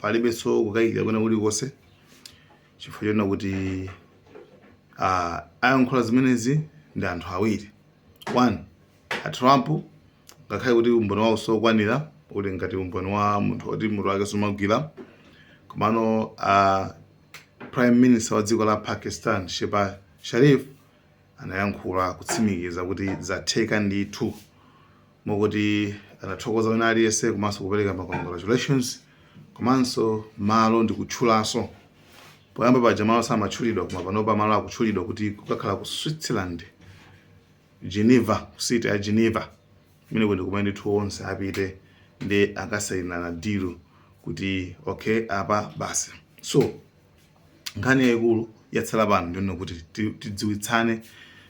palibenso kukayikira kwina kulikonse chifukwa chonena kuti uh, ayankhula zimenezi ndi anthu awiri one a trump ngakhale kuti umboni wawo osakwanira uli ngati umboni wa munthu woti mutu wake sumagwira komano uh, prime minister wa dziko la pakistan shehbaz sharif anayankhula kutsimikiza kuti zatheka ndithu mokuti anathokoza wina aliyense komanso kupereka ma congratulations komanso malo ndikutchulanso poyamba paja malo samatchulidwa koma panopa malo akutchulidwa kuti kukakhala ku switzerland geneva city ya geneva kumene kuti kumene ndithu onse apite ndi akasainirana deal kuti okay apa basi so nkhani yayikulu yatsala pano ndi yonena kuti tidziwitsane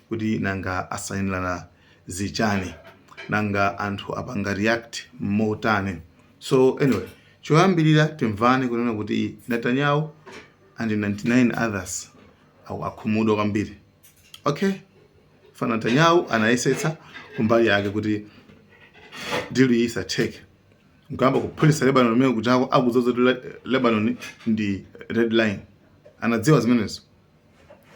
kuti nanga asayinirana zichani nanga anthu apanga react motani so anyway choyambirira timvane kunena kuti Netanyahu and 99 others akhumudwa kwambiri okay fana Netanyahu anayesetsa kumbali yake kuti deal iyi isatheke nkuyamba kuphulisa lebanon kumene kujako akudziwa zoti Le- lebanon ndi red line anadziwa zimenezo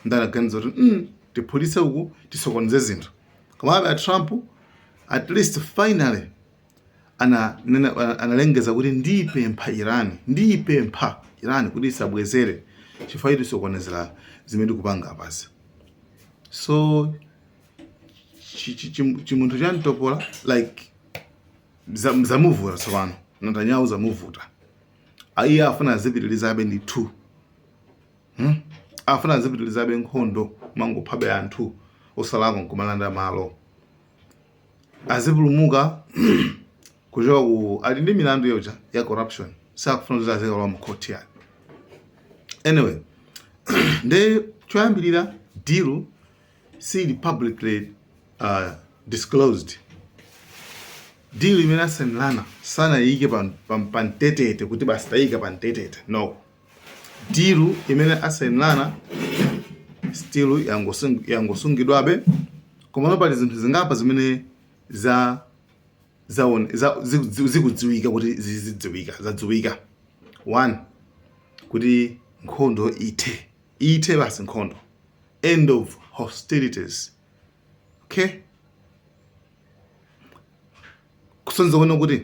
ndi anaganiza kuti mm, tiphulise uku tisokoneze zinthu komabe a trump at least finally ananena- ana- analengeza kuti ndipempha iran ndipempha iran kuti isabwezere chifukwa choti isokonezera zimene tikupanga apazi so chi- chi- chi- chimunthu cha mtopola like Za- zamuvuta tsopano netanyahu zamuvuta Ah, iye afuna azipitilizabe ndithu hmm? afuna azipitilizabe nkhondo kumangophabe anthu osalakwa nkumalanda malo azipulumuka kuchoka ku ali ndi milandu yoja ya corruption sakufuna kuti azikalowa mu court yake anyway nde choyambirira deal sili publicly uh, disclosed deal imene asainirana sanayike pa- pa- pamtetete kuti basi tayika pamtetete no deal imene asainirana still yangosung- yangosungidwabe komano pali zinthu zingapa zimene za zaone- za- ziku- ziku- zikudziwika kuti zizidziwika zadziwika one kuti nkhondo ithe ithe basi nkhondo end of hostilities okay kusonyeza kunena kuti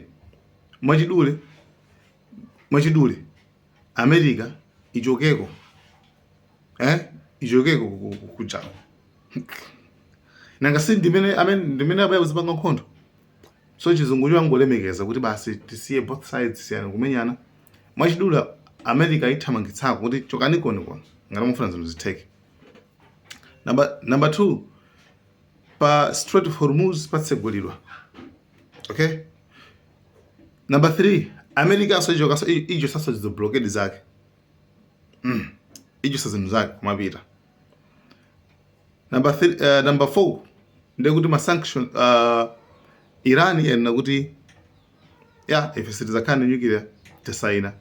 mwachidule mwachidule america ichokeko eh ichokeko ku- ku- kujako nanga si ndimene amene ndimene abayakuzipanga nkhondo so chizungucho angolemekeza kuti basi tisiye both sides siyani kumenyana mwachidule america aithamangitsako kuti chokani koni koni ngati mufuna zinthu zitheke number, number two pa strait of hormuz patsegulidwa okay number three americanso ichokanso ichotsanso izo blockade zake mm. ichotsa zinthu zake kumapita Number three, uh, number 4 ndiye kuti ma sanction uh, Iran yanena kuti ya ife sitizakhala na nuclear tisaina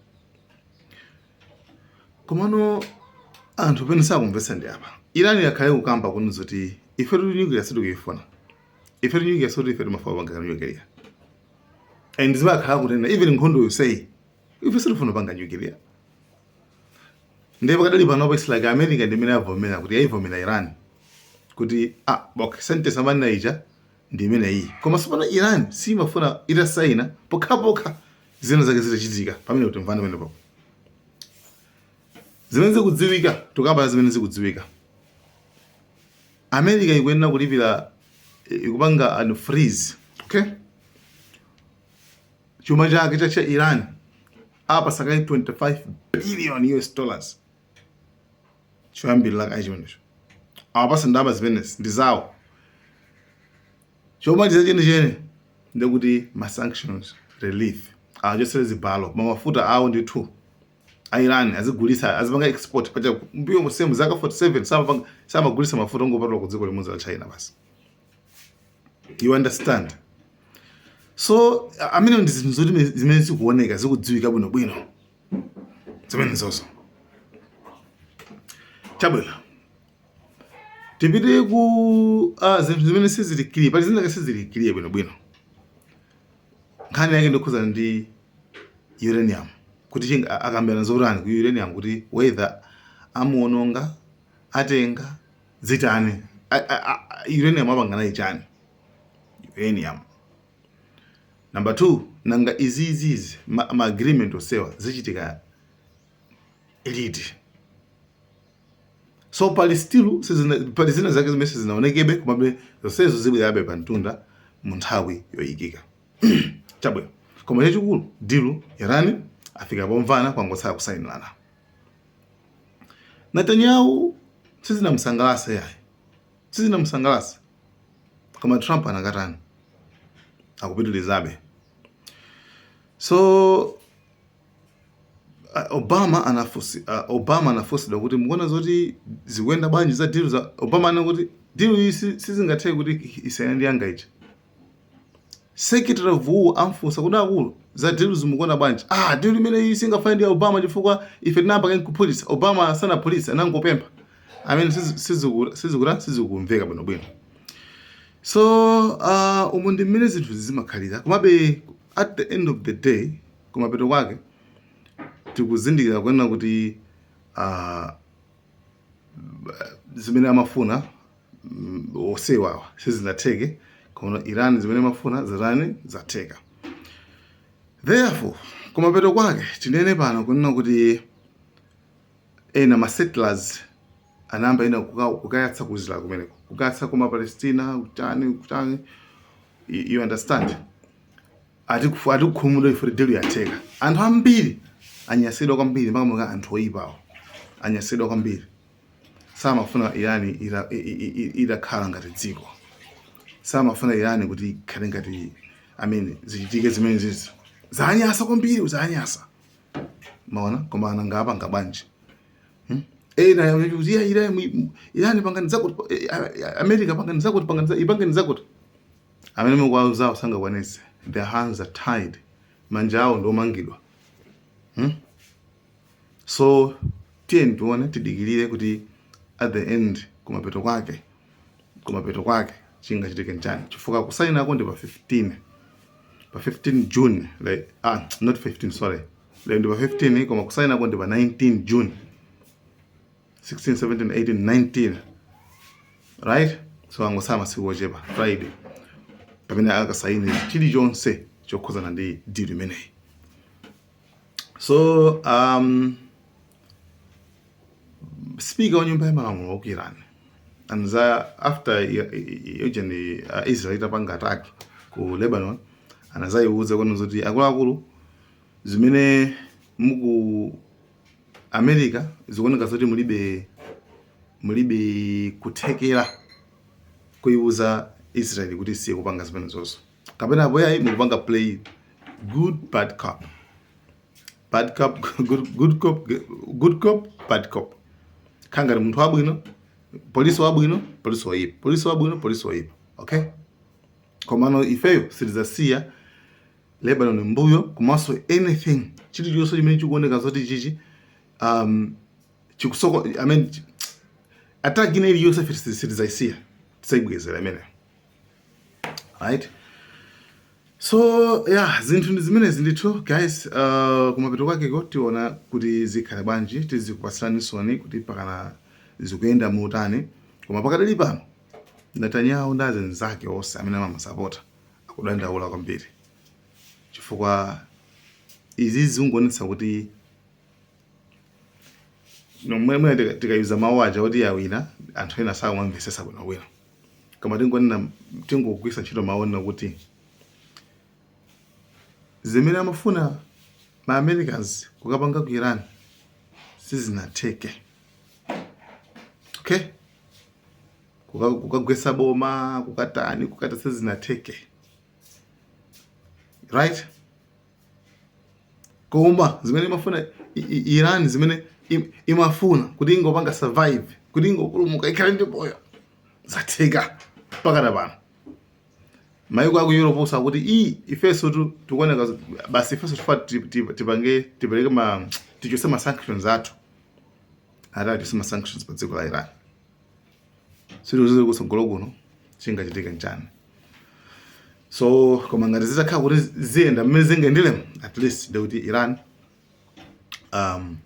komano anthu pamene sakumvetsa ndi apa Iran yakhala ikukamba kunena zoti ifetu nuclear sitikuyifuna ifetu nuclear sizoti ife timafuna kupanga nuclear and zibakhala kunena even nkhondo yonseyi ife sitifuna kupanga nuclear ndiye pakadali panopo its like america ndi imene yavomera kuti yayivomera iran kuti ah, okay, sentence amanena ija ndi imeneyi koma tsopano iran siyimafuna itasaina pokhapokha zina zake zitachitika pamene tikumvana pamenepo zimene zikudziwika tukamba zimene zikudziwika america ikuyenera kulipira eh, ikupanga unfreeze okay chuma chake cha cha iran apatsa kaye 25 billion us dollars choyambirira kaye chimenecho awapatsa ndalama zimenezi ndi zawo chomaliza chenicheni ndekuti ma sanctions relief awachotsere zibalo ma mafuta awo nditu a irani azigulitsa azipanga export paja mbuyo monsemu zaka 47 samagulitsa mafuta ongopatula ku dziko limodzi la china basi you understand so amene ndi zinthu zoti zimene zikuoneka zikudziwika bwinobwino zimenezozo chabwino tipite ku uh, zinthu zimene sizili clear pali zina sizili clear bwinobwino nkhani yake ndikhudzana ndi uranium kuti akambirana zotani ku uranium kuti whether amuononga atenga zitani uranium apanga naye chani uranium number 2 nanga izizizi ma, ma agreement onsewa zichitika liti so pali still pali zina zake zimene sizinaonekebe komabe zonsezo zibwerabe pa mtunda mu nthawi yoyikika chabwino koma chachikulu deal yatani afika pomvana kwangotsala kusayinirana Netanyahu sizinamusangalatse yayi sizinamusangalatse koma Trump anakatani akupitilizabe so Obama anafunsi uh, Obama anafunsidwa kuti mukuona zoti zikuyenda bwanji za deal za Obama anena kuti deal iyi sizingatheke kuti isiyane ndi yanga ija Secretary of War anamufunsa kuti akulu za deal izi mukuziona bwanji? Ah, deal imene iyi singafanane ndi ya Obama chifukwa ife tinayamba kale kuphulitsa. Obama sanaphulitse anangopempha. I mean sizi- siziku- sizikuta sizikumveka bwino bwino. So uh, umu ndi mmene zinthu zimakhalira. Komabe at the end of the day kumapeto kwake tikuzindikira kuona kuti uh, zimene amafuna mm, osewawa sizinatheke komano Iran zimene amafuna zatani zatheka therefore kumapeto kwake tinene pano kunena kuti ena ma settlers anayamba ena kuka- kukayatsa ku israel kumeneko kukayatsa kuma palestina kutani kutani you you understand Ati kufu- ati kukhumudwa chifukwa deal yatheka anthu ambiri anyansidwa kwambiri makamaka anthu oyipawo anyansidwa kwambiri samafuna irani ita- i- i- i- itakhala ngati dziko samafuna irani kuti ikhale ngati amene zichitike zimene izi zanyansa kwambiri zanyansa maona koma nanga apanga bwanji ena akuti a irani irani pangani zakuti eh, eh, america pangani zakuti pangani za- ipangeni zakuti Amene mukuwauzawo sangakwanitse. Their hands are tied. Manja awo ndiomangidwa. Hmm? So tiyeni tione tidikilire kuti at the end kumapeto kwake kumapeto kwake chingachitike n'chani chifukwa kusayinako ndi pa 15 pa 15 June like, ah, not 15 sorry like, ndi pa 15 koma kusayinako ndi pa 19 June 16 17 18 19 right so angotsala masiku ochepa friday pamene akasaine chilichonse chokhudzana ndi deal imeneyi so um, speaker wa nyumba ya malamulo wa ku iran anadza after yojeni uh, israel itapanga attack ku lebanon anadzayiwuza kwanu zoti akuluakulu zimene muku America zikuoneka zoti mulibe mulibe kuthekera kuiuza Israel kuti isiye kupanga zimenezo kapena apo yayi mukupanga play good bad cop bad cop good, good cop good cop bad cop kukhala ngati munthu wabwino polisi wabwino polisi woipa polisi wabwino polisi woipa okay komano ifeyo sitidzasiya Lebanon mbuyo komanso anything chilichonse chimene chikuoneka zoti chichi um, chikusoko I mean chi- attack ina iliyonse ife siti- sitidzayisiya tidzayibwezera imene right so yeah zinthu ndi zimenezi ndithu guys uh, kumapeto kwakeko tiona kuti zikhala bwanji tizikupatsiraninsoni kuti pakadali zikuyenda motani koma pakadali pano Netanyahu ndi anzake onse amene amamusapota akudandaula kwambiri chifukwa izi zikungonetsa kuti nomwemwe tikayuza mawu aja kuti yawina anthu ena sakumamvesesa bwinobwino koma tingonena tingogwiritsa ntchito mawu onena kuti zimene amafuna ma americans kukapanga ku iran sizinatheke okay kukagwetsa boma kukatani kukata sizinatheke right koma zimene imafuna Iran zimene imafuna kuti ingopanga survive kuti ingopulumuka ikhale ndi moyo zatheka mpakana pano maiko aku Europe nso akuti i ifeso tu tikuoneka basi ifeso tifuna tipange tipereke ma tichose ma sanctions athu atani tichose ma sanctions pa dziko la Iran sitidziwa kutsogolo kuno chingachitike nchani so koma ngati zitakhala kuti ziyenda mmene zikuyenderamo at least ndiye kuti iran um,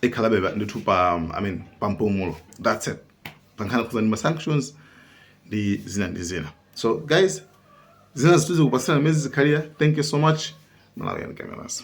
ikhalabe pa- ndithu pa um, i mean pa mpumulo that's it pankhani yokhudzana ndi ma sanctions ndi zina ndi zina so guys zinazi tizikupasirani mmene zizikhalira thank you so much malawi and cameras